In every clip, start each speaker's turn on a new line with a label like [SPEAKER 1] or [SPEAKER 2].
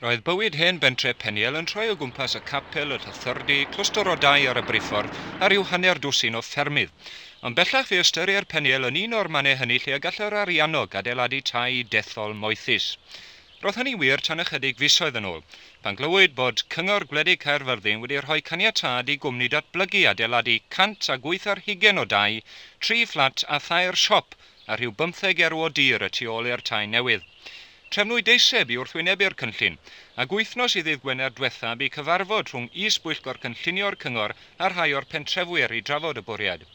[SPEAKER 1] Roedd bywyd hen bentre Peniel yn troi o gwmpas y capel, yr hyfforddi, clwstwr o dai ar y briffordd a rhyw hanner dwsin o ffermydd. Ond bellach fe ystyrier Peniel yn un o'r mannau hynny lle y gall yr Ariannog adeiladu tai dethol moethus. Roedd hynny'n wir tan ychydig fisoedd yn ôl, pan glywyd bod Cyngor Gwledig Caerfyrddin wedi rhoi caniatâd i gwmni datblygu adeiladu 108 ar hugain o dai, tri fflat a thair siop a rhyw bymtheg erw o dir y tu ôl i'r tai newydd. Trefnwyd deiseb i wrthwynebu'r cynllun, ac wythnos i ddydd Gwener dwetha bu cyfarfod rhwng Is-bwyllgor Cynllunio'r Cyngor a rhai o'r pentrefwyr i drafod y bwriad.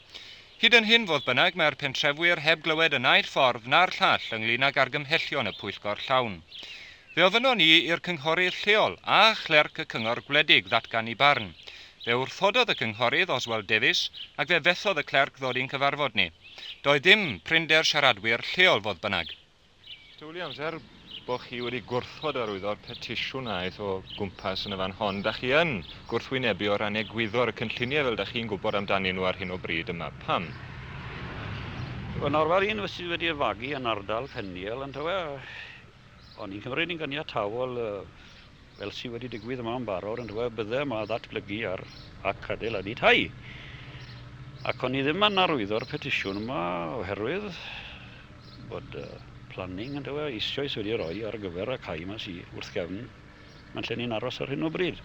[SPEAKER 1] Hyd yn hyn, fodd bynnag, mae'r pentrefwyr heb glywed y naill ffordd na'r llall ynglŷn ag argymhellion y pwyllgor llawn. Fe ofynnon ni i'r cynghorydd lleol a chlerc y cyngor gwledig ddatgan i barn. Fe wrthododd y cynghorydd, Oswald Davies, ac fe fethodd y clerc ddod i'n cyfarfod ni. Doedd dim prinder siaradwyr lleol fodd bynnag. Dw i amser bod chi wedi gwrthod arwyddo'r petisiwn aeth o gwmpas yn y fan hon. Da chi yn gwrthwynebu o ran egwyddor y cynlluniau fel da chi'n gwybod amdanyn nhw ar hyn o bryd yma. Pam?
[SPEAKER 2] Yn arfer un sydd wedi ei fagu yn ardal Peniel yndyw e? Ond yn Cymru ni'n ganiataol, fel sydd wedi digwydd yma yn barod yn dweud bydde yma ddatblygu ar ac adeiladu tai. Ac o'n i ddim yn arwyddo'r petisiwn yma oherwydd bod planning yn dweud eisoes wedi rhoi ar gyfer y cae yma sydd wrth gefn yn lle ni'n aros ar hyn o bryd.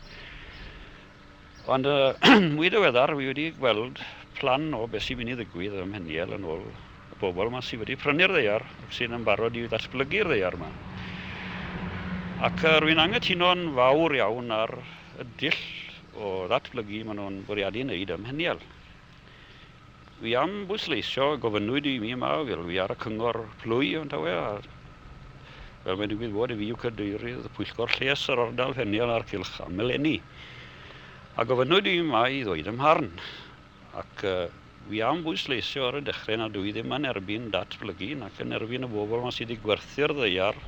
[SPEAKER 2] Ond yn mwy diweddar, wi wedi gweld plan o beth sy'n mynd i ddigwydd ym Mheniel yn ôl y bobl 'ma sydd wedi prynu'r ddaear ac sydd yn barod i ddatblygu'r ddaear 'ma. Ac rwy'n anghytuno'n fawr iawn ar y dull o ddatblygu maen nhw'n bwriadu wneud ym Mheniel. Dwi am bwysleisio, gofynnwyd i mi yma, fel fi ar y cyngor plwy yn tawe, a fel mae'n digwydd fod, fi yw cadeirydd pwyllgor lles yr ardal Fenial a'r Cylch am eleni. A gofynnwyd i mi yma i ddweud ym mharn, ac uh, fi am bwysleisio ar y dechrau nad dwi ddim yn erbyn datblygu nac yn erbyn y bobl yma sydd wedi gwerthu'r ddeiar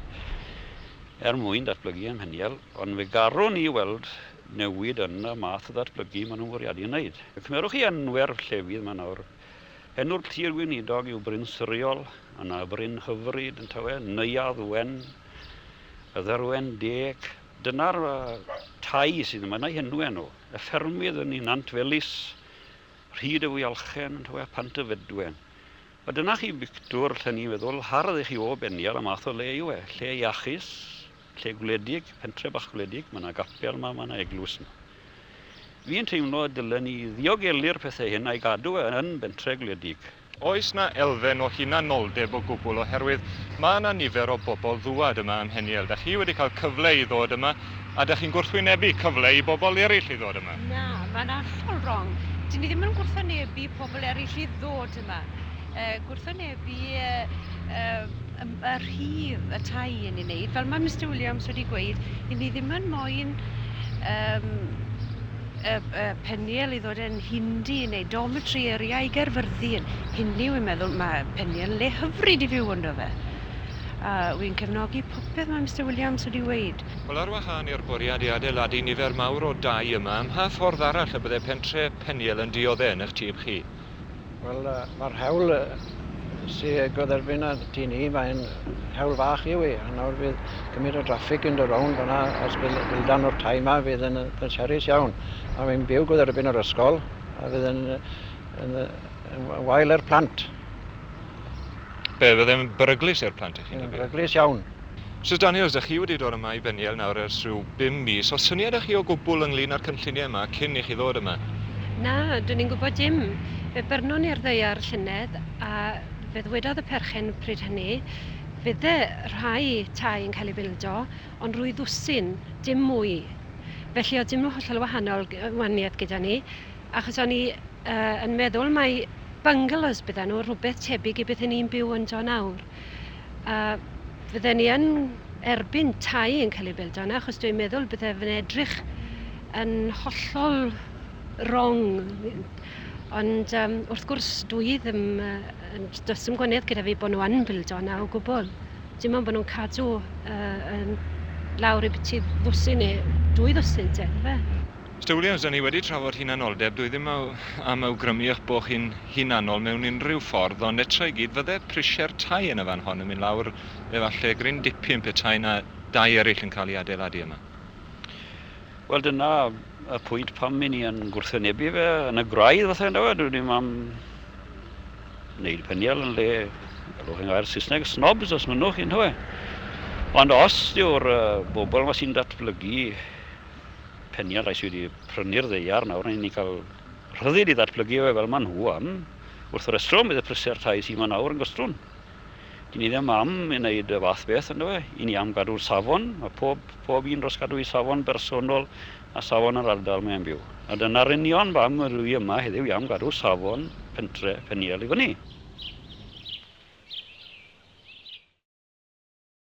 [SPEAKER 2] er mwyn datblygu ym Mheniel, ond fe garwn i weld newid yn y math o ddatblygu maen nhw'n fwriadu ei wneud. Cymerwch chi enw'r llefydd yma nawr. Enw'r Tir Weinidog yw Bryn Suriol, yna Bryn Hyfryd yn tawe, Neuadd Wen, y Dderwen Deg. Dyna'r tai sydd yma, yna henw enw. Y ffermydd yn Nant Felys, Rhyd y Fwyalchen yn tawe, Pant y Fedwen. A dyna chi bictwr, lle ni'n feddwl, hardd i chi o benni ar y math o le yw e. Lle iachus, Lle gwledig, pentre bach gwledig, mae 'na gapel 'ma, mae 'na eglwys 'ma. Fi'n teimlo y dylen ni ddiogelu'r pethe hyn a'i gadw e yn bentre gwledig. Oes 'na
[SPEAKER 1] elfen o hunanoldeb o gwbwl oherwydd ma' 'na nifer o bobl ddŵad yma ym Mheniel. Dach chi wedi cael cyfle i ddod yma a dach chi'n gwrthwynebu cyfle i bobl eryll i ddod yma? Na, mae'n hollol
[SPEAKER 3] rong. Dyn ni ddim yn gwrthwynebu pobl eryll i ddod yma. Yy gwrthwynebu yy yy y rhif y tai yn ei wneud. Fel mae Mr Williams wedi gweud, i ni ddim yn moyn um, y, y peniel i ddod yn hindi neu dormitory area i gerfyrthu yn hindi, wy'n meddwl mae peniel le hyfryd i fyw ynddo fe. A wy'n cefnogi popeth mae Mr Williams wedi gweud. Wel, ar wahân i'r
[SPEAKER 1] bwriad i adeiladu nifer mawr o dai yma, ym mha ffordd arall y bydde pentre Peniel yn diodde' yn eich tyb chi? Wel,
[SPEAKER 4] mae'r hewl sy'n goddefyn ar ti ni, mae'n hewl fach yw i. A nawr fydd gymryd o draffig yn dy rown fyna, os bydd bildan o'r tai yma, fydd yn, yn serus iawn. A mae'n byw goddefyn o'r ysgol, a fydd yn, yn, yn, yn wael i'r plant.
[SPEAKER 1] Be, bydd yn beryglus i'r plant i chi'n Yn beryglus iawn.
[SPEAKER 4] Misus Daniels, dach
[SPEAKER 1] chi wedi dod yma i Beniel nawr ers rhyw bum mis. Oes syniad â chi o gwbl ynglyn â'r cynlluniau yma cyn i chi ddod yma? Na, dwn
[SPEAKER 3] i'n gwybod dim. Fe byrnon ni ar ddaear llynedd a fe ddwedodd y perchen pryd hynny, fydde rhai tai yn cael eu bildo, ond rwy ddwsin, dim mwy. Felly oedd dim hollol wahanol waniaeth gyda ni, achos o'n i yn meddwl mai bungalows bydden nhw, rhywbeth tebyg i beth 'y ni'n byw ynddo nawr. a fydden ni yn erbyn tai yn cael ei build yna, achos dwi'n meddwl bydde fe'n edrych yn hollol wrong. Ond um, wrth gwrs, dwi ddim, uh, does dim gwaniaeth gyda fi bod nhw yn build yna o gwbl. Dim ond bod nhw'n cadw uh, yn lawr i byti ddwsin neu dwy ddwsin te, fe? Mister Williams, da ni
[SPEAKER 1] wedi trafod hunanoldeb, dwi ddim am awgrymu eich bod chi'n hunanol mewn unrhyw ffordd, ond eto i gyd, fydde prisiau'r tai yn y fan hon yn mynd lawr efallai gryn dipyn petai 'na dai eraill yn cael ei adeiladu yma.
[SPEAKER 2] Wel, dyna y pwynt pam 'yn ni yn gwrthwynebu fe yn y gwraidd falle, yndyw e? Dwi ddim am wneud peniel yn lle, galwch chi'n gair Saesneg, snobs os mynnwch chi, yndyw e? Ond os yw'r bobl 'ma sy'n datblygu Penialais wedi prynu'r ddaear nawr, rhaid i ni cael rhyddid i ddatblygu fe fel maen nhw am. Wrth y restro, bydd y prisiau'r tai sy'n yma nawr yn gystrwn. Dyn ni ddim am i wneud y fath beth, ynddo fe. I ni am gadw'r safon, mae pob, pob un dros gadw ei safon bersonol a safon yr ardal mae'n byw. A dyna'r union bam yr wy yma heddiw i am gadw safon pentre Peniel i fyny.